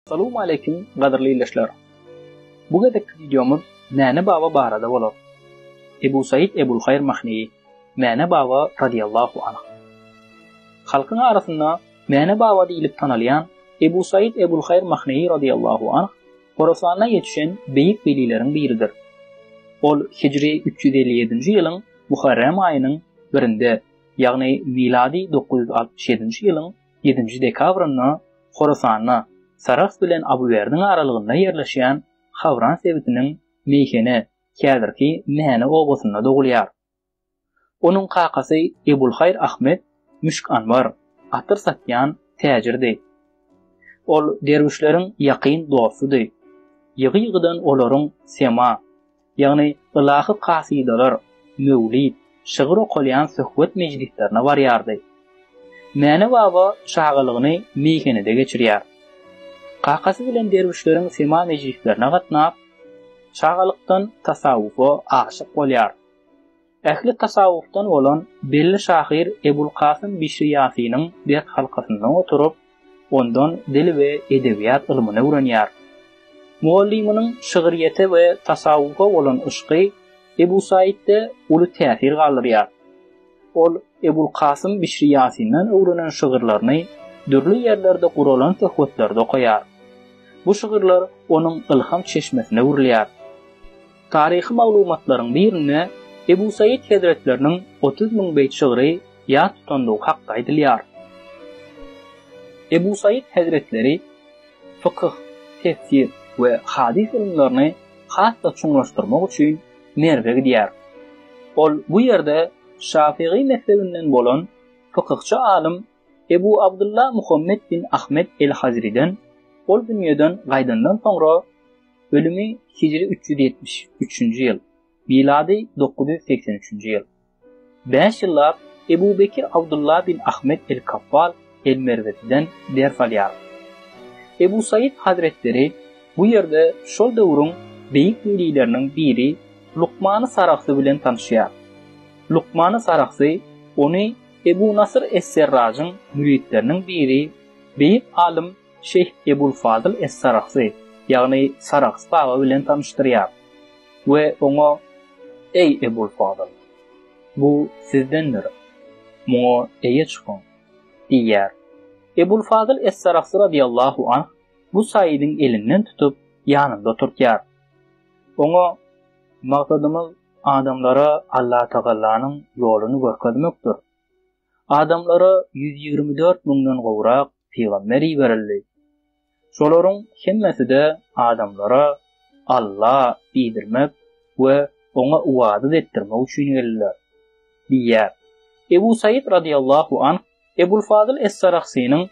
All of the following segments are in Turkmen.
Salowmaleýkim gadyrly ildeşler! Bu gezekki wideomyz Mäne baba barada bolar. Ebu Said Ebulhaýr Mahneýi, Mäne baba radyýallahu anh. Halkyň arasynda Mäne baba diýlip tanalýan Ebu Said Ebulhaýr Mahneýi radyýallahu anh Horasanda ýetişen beýik welileriň biridir. Ol hijri üç ýüz elli ýedinji ýylyň Muharrem aýynyň birinde, ýagny milady dokuz ýüz altmyş ýedinji ýylyň ýedinji dekabrynda Horasanda Sarahs bilen Abywerdiň aralygynda ýerleşýän Hawran sebitiniň Meýhene, häzirki Mäne obasynda dogulýar. Onuň kakasy Ebulhaýr Ahmet müşk anbar, atyr satýan, täjirdi. Ol derwüşleriň ýakyn dostudy. Ýygy-ýygydan olaryň sema, ýagny ylahy kasydalar, möwlid, şygyr okalýan söhbet mejlislerine barýardy. Mäne baba çagalygyny meýhenede geçirýär. Kakasy bilen derwüşleriň sema mejlislerine gatnap, çagalykdan tasawwufa aşyk bolýar. Ähli tasawwufdan bolan belli şahyr Ebul Kasym Bişri Ýasynyň berk halkasynda oturyp, ondan dil we edebiýat ylmyny öwrenýär. Mugallymynyň şygryýete we tasawwufa bolan yşky Ebu Saitde uly täsir galdyrýar. Ol Ebul Kasym Bişri Ýasyndan öwrenen şygyrlaryny dürli ýerlerde guralan söhbetlerde okaýar. Bu şygyrlar onuň ylham çeşmesine öwrülýär. Taryhy maglumatlaryň birinde Ebu Saýyt hezretleriniň otuz müň beýt şygry ýat tutandygy hakda aýdylýar. Ebu Saýyt hezretleri fykyh, tefsir we hadys ylymlaryny has-da çuňlaşdyrmak üçin Merwe gidýär. Ol bu ýerde şafygy mezhebinden bolan fykyhçy alym Ebu Abdylla Muhammet bin Ahmet el-Hazriden ol dünýeden gaýdandan soňra, Ölümi hijri üç ýüz ýetmiş üçünji ýyl, milady dokuz ýüz segsen üçünji ýyl. Bäş ýyllap Ebu Bekir Abdulla bin Ahmet el-Kaffal el-Merweziden ders alýar. Ebu Saýyt hazretleri bu ýerde şol döwrüň beýik welileriniň biri Lukmany Sarahsy bilen tanyşýar. Lukmany Sarahsy ony Ebu Nasyr es-Serrajyň müritleriniň biri, beýik alym Şeýh Ebul Fadyl Es-Saragsy, ýagny Sarags baba bilen tanyşdyrýar we oňa, Eý, Ebul Fadyl! Bu sizdendir. Muňa eýe çykyň! diýýär. Ebul Fadyl Es-Saragsy radyýallahu anh bu saýydyň elinden tutup, ýanynda oturtýar. Oňa, Maksadymyz adamlara Allatagallanyň ýoluny görkezmekdir. Adamlara ýüz ýigrimi dört müňden gowrak pygamber iberildi. Şolaryň hemmesi-de adamlara Alla diýdirmek we Oňa ybadat etdirmek üçin geldiler. Diýýär. Ebu Saýyt radyllahu anh Ebul Fazyl Es-Sarahsynyň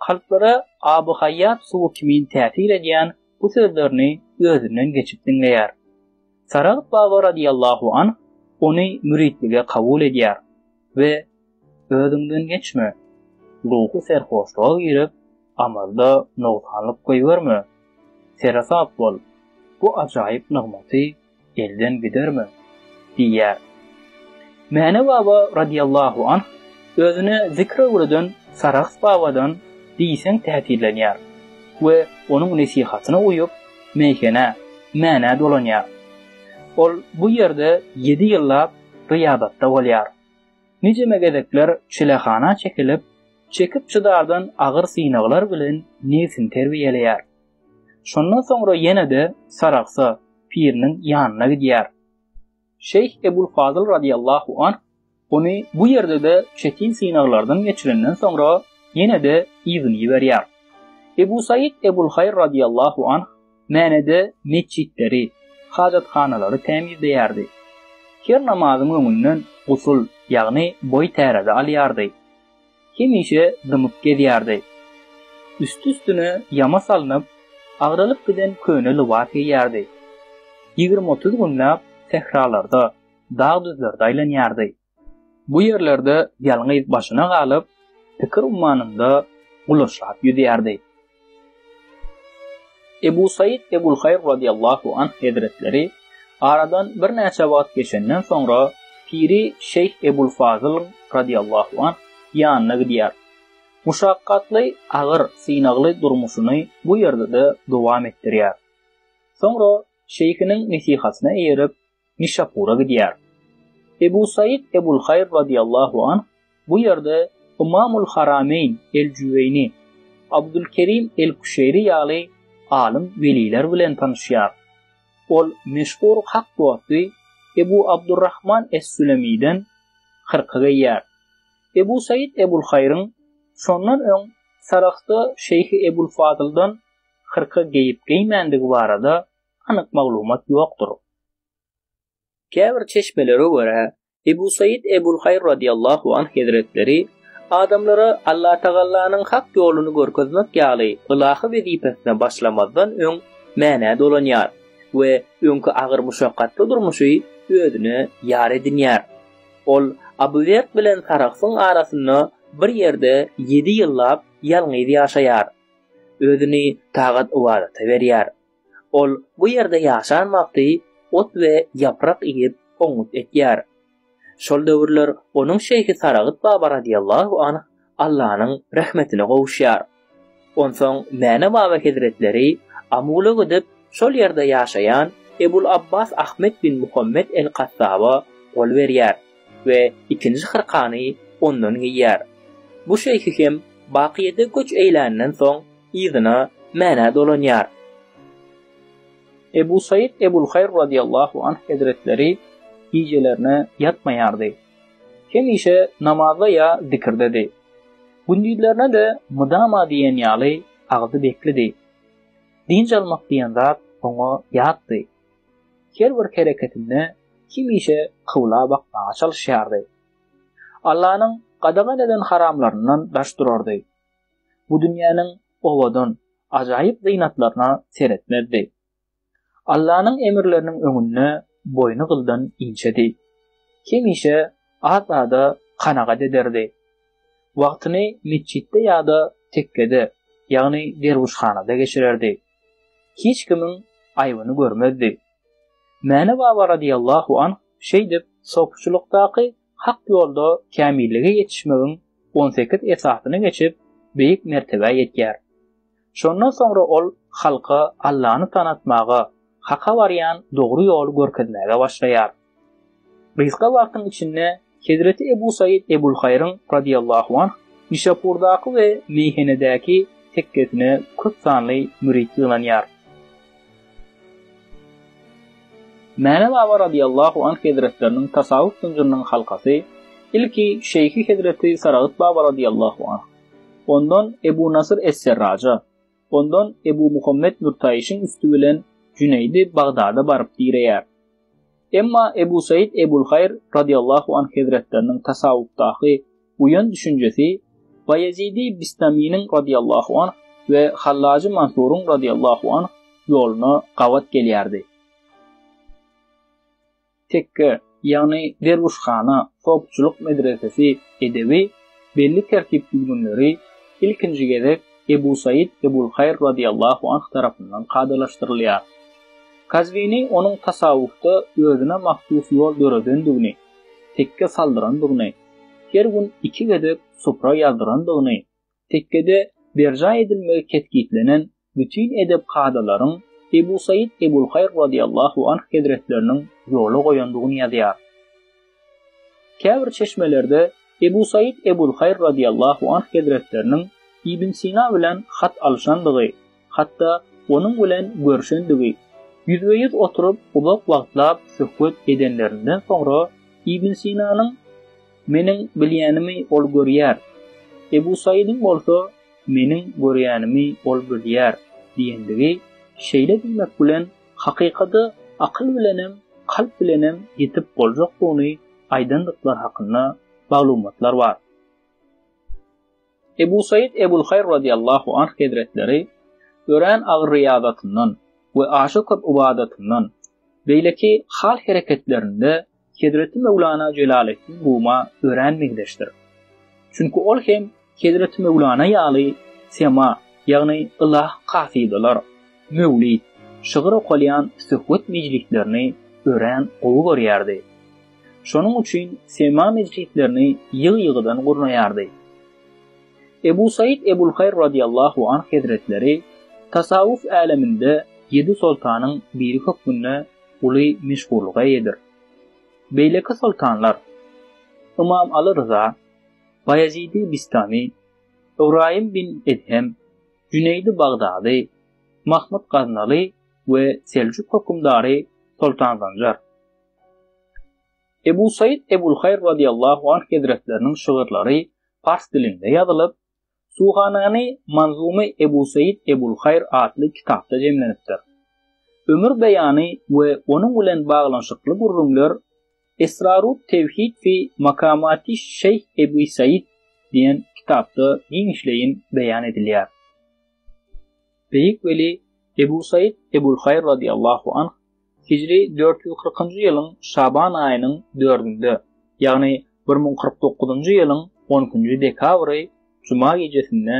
kalplara aby-haýýat suwy kimin täsir edýän bu sözlerini özünden geçip diňleýär. Saragt baba radyllahu anh ony müritlige kabul edýär. we özüňden geçme. Ruhy serhoşluga girip, amalda nogsanlyk goýberme. Seresap bol, bu ajaýyp nygmaty elden giderme diýýär. Mäne baba radiýallahu anh özüne zikr öwreden Sarahs babadan diýseň täsirlenýär we onuň nesihatyna uýup, meýhene, Mänä dolanýar. Ol bu ýerde ýedi ýyllap gyýabatda bolýar. Nijeme gezekler çilehana çekilip, çekip-çydardan agyr synaglar bilen nebsini terbiýeleýär. Şondan soňra ýene-de Saragsa piriniň ýanyna gidýär. Şeýh Ebul Fazyl radyýallahu anh ony bu ýerde-de çetin synaglardan geçirenden soňra ýene-de yzyny iberýär. Ebu Saýyt Ebul Haýr radyýallahu anh Mänede metjitleri, hajathanalary tämizleýärdi. Her namazyň öňünden gusul, ýagny boý täräzi alýardy. Hemişe dymyp gezýärdi. Üsti-üstüne ýama salnyp, agralyp giden köne lybas geýýärdi. Ýigrimi-otuz günläp sähralarda, dag-düzlerde aýlanýardy. Bu ýerlerde ýalňyz başyna galyp, pikir ummanynda ulaşap ýüzýärdi. Ebu Saýyt Ebulhaýr radiýallahu anh hezretleri aradan birnäçe wagt geçenden soňra piri Şeýh Ebul Fazyl radiýallahu anh ýanyna gidýär. Muşakgatly, agyr, synagly durmuşyny bu ýerde-de dowam etdirýär. Soňra şeýhiniň nesihatyna eýerip, Nişapura gidýär. Ebu Said Ebulhaýr radyýallahu anh bu ýerde Ymamul Harameýn El-Jüweýni, Abdulkerim El-Küşeýri ýaly alym weliler bilen tanyşýar. Ol meşhur hak dosty Ebu Abdurrahman Es-Sülemiden hyrka geýýär. Ebu Said Ebulhaýryň şondan öň Sarahsda Şeýhi Ebulfadyldan hyrka geýip-geýmändigi barada anyk maglumat ýokdur. Käbir çeşmelere görä, Ebu Saýid Ebul Haýr radiýallahu anh hezretleri adamlara Allatagallanyň hak ýoluny görkezmek ýaly ylahy wezipesine başlamazdan öň Mänä dolanýar we öňki agyr muşakgatly durmuşy özüne ýar edinýär. Ol Abu Werd bilen Sarahsyň arasynda bir ýerde ýedi ýyllap ýalňyz ýaşaýar. Özüni tagat-ybadata berýär. Ol bu ýerde ýaşan wagty ot we ýaprak iýip, oňňut ekýär. Şol döwürler onuň şeýhi Saragyt baba razyýallahu anh Allanyň rehmetine gowuşýar. Onsoň Mäne baba hezretleri Amula gidip, şol ýerde ýaşaýan Ebul Abbas Ahmet bin Muhammet el-Kattaba gol berýär. we ikinji hyrkany ondan geýýär. Bu şeýhi hem Bakyýede göç eýländen soň yzyna Mänä dolanýar. Ebu Saýyt Ebulhaýr razyýallahu anh hezretleri gijelerine ýatmaýardy. Hemişe namazda ýa zikirdedi. Gündizlerine-de mydama diýen ýaly agzy beklidi. Dynç almak diýen zat oňa ýatdy. Her bir hereketinde hemişe kybla bakmaga çalyşýardy. Allanyň gadagan eden haramlaryndan daş durardy. Bu dünýäniň owadan, ajaýyp zynatlaryna seretmezdi. Allanyň emirleriniň öňünde boýny gyldan inçedi. Hemişe az-aza kanagat ederdi. Wagtyny metjitde ýa-da tekkede, ýagny derwüşhanada geçirerdi. hiç kimiň aýbyny görmezdi. Mäne baba radiýallahu anh şeýdip sopuçylykdaky hak ýolda kämillige ýetişmegiň on sekiz esasyny geçip, beýik mertebä ýetýär. Şondan soňra ol halka Allany tanatmaga, haka barýan dogry ýoly görkezmäge başlaýar. Gysga wagtyň içinde hezreti Ebu Said Ebulhaýryň, radyýallahu anh, Nişapurdaky we Meýhenedäki tekgesine köp sanly mürit ýygnanýar. Mäne baba radyýallahu anh hezretleriniň tasawwuf zynjyrynyň halkasy ilki şeýhi hezreti Saragyt baba radyýallahu anh, ondan Ebu Nasyr es-Serraja, Ondan Ebu Muhammet Nurtaýyşyň üsti bilen Jüneýdi Bagdada baryp direýär. Emma Ebu Saýyt Ebul Haýr radiyallahu anh hezretleriniň tasawwufdaky buýan düşünjesi Baýezidi Bistaminiň radiyallahu anh we Hallajy Mansuryň radiyallahu anh ýoluna gabat gelýärdi. Tekke, ýagny derwüşhana, sopçylyk medresesi edebi, belli tertip-düzgünleri ilkinji gezek Ebu Said Ebulhaýr radiyallahu anh tarapyndan kadalaşdyrylýar. Kazwini onuň tasawwufda özüne mahsus ýol döredendigini, tekke saldyrandygyny, her gün iki gezek supra ýazdyrandygyny Tekkede berjaý edilmegi kesgitlenen bütin edep kadalaryň Ebu Saýyt Ebulhaýr radyýallahu anh hezretleriniň ýola goýandygyny ýazýar. Käbir çeşmelerde Ebu Saýyt Ebulhaýr radyýallahu anh hezretleriniň Ibn Sina bilen hat alyşandygy, hatda onuň bilen görşendigi, ýüzbe-ýüz oturyp uzak wagtlap söhbet edenlerinden soňra Ibn Sinanyň, Meniň bilýänimi ol görýär, Ebu Saýydyň bolsa, Meniň görýänimi ol bilýär diýendigi şeýle diýmek bilen hakykada akyl bilenem, kalp bilenem ýetip boljakdygyny aýdandyklary hakynda maglumatlar bar. Ebu Said Ebulhaýr radiyallahu anh hezretleri örän agyr riýazatyndan we aşa köp ybadatyndan, beýleki hal-hereketlerinde Hezreti Möwlana Jelaleddin Ruma örän meňzeşdir. Çünki ol hem Hezreti Möwlana ýaly sema, ýagny ylah kasydalar, möwlid, şygyr okalýan söhbet mejlislerini örän gowy görýärdi. Şonuň üçin sema mejlislerini ýygy-ýygydan gurnaýardy. Ebu Said Ebulhaýr radiýallahu anh hezretleri tasawwuf äleminde ýedi soltanyň biri hökmünde uly meşhurlyga eýedir. Beýleki soltanlar, Ymam Aly Ryza, Baýezidi Bistami, Ybraýym bin Edhem, Jüneýdi Bagdady, Mahmyt Gaznaly we Seljuk hökümdary Soltan Zanjar. Ebu Said Ebulhaýr radiyallahu anh hezretleriniň şygyrlary pars dilinde ýazylyp, Suhanany Manzumy Ebu Said Ebulhaýr atly kitapda jemlenipdir. Ömür beýany we onuň bilen baglanyşykly gürrüňler Esrarut tewhid fi makamati Şeýh Ebu Said diýen kitapda giňişleýin beýan edilýär. Beýik weli Ebu Saýyt Ebulhaýr radyýallahu anh hijri dört ýüz kyrkynjy ýylyň şaban aýynyň dördünde, ýagny bir müň kyrk dokuzynjy ýylyň on ikinji dekabry juma gijesinde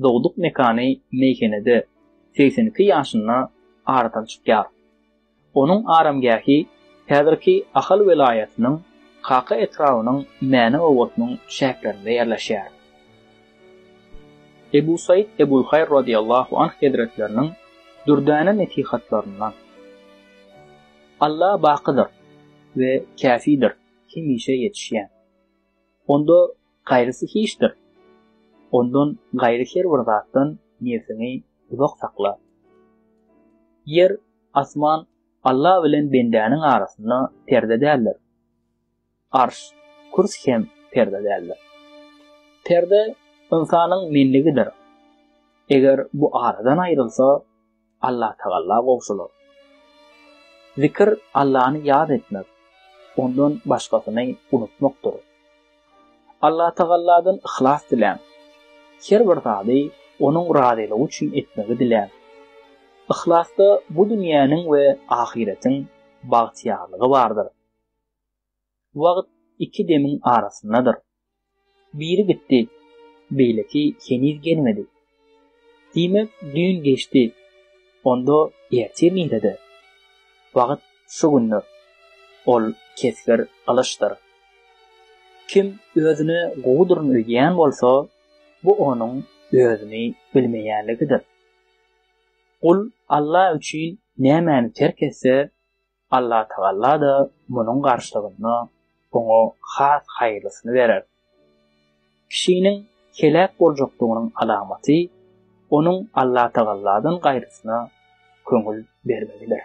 dogduk mekany meýhenede segsen iki ýaşynda aradan çykýar. Onuň aramgähi häzirki Ahal welaýatynyň Kaka etrabynyň Mäne obasynyň çäklerinde ýerleşýär. Ebu Saýyt Ebulhaýr radiýallahu anh hezretleriniň dürdäne nesihatlaryndan, Alla bakydyr we käfidir, hemişe ýetişýän. Onda Gaýrysy hiçdir. Ondan gaýry her bir zatdan nebsiňi uzak sakla. Ýer, asman Alla bilen bendäniň arasynda perde däldir. Arş, kürs hem perde däldir. Perde ynsanyň menligidir. Eger bu aradan aýrylsa, Allatagala gowşular. Zikir Allany ýat etmek, ondan başgasyny unutmakdyr. Allatagaladan yhlas diläň. Her bir zady onuň razylygy üçin etmegi diläň. Yhlasda bu dünýäniň we ahyretiň bagtyýarlygy bardyr. Wagt iki demiň arasyndadyr. Biri gitdi, beýleki heniz gelmedi. Diýmek, düýn geçdi, onda ertir nirede? Wagt şu gündir. Ol kesgir gylyçdyr. Kim özüne gowudyryn öýdýän bolsa, bu onuň özüni bilmeýänligidir. Gul Alla üçin nämäni terk etse, Allatagalla-da munuň garşylygynda oňa has haýyrlysyny berer. Kişiniň heläk boljakdygynyň alamaty onuň Allatagalladan gaýrysyna köňül bermegidir.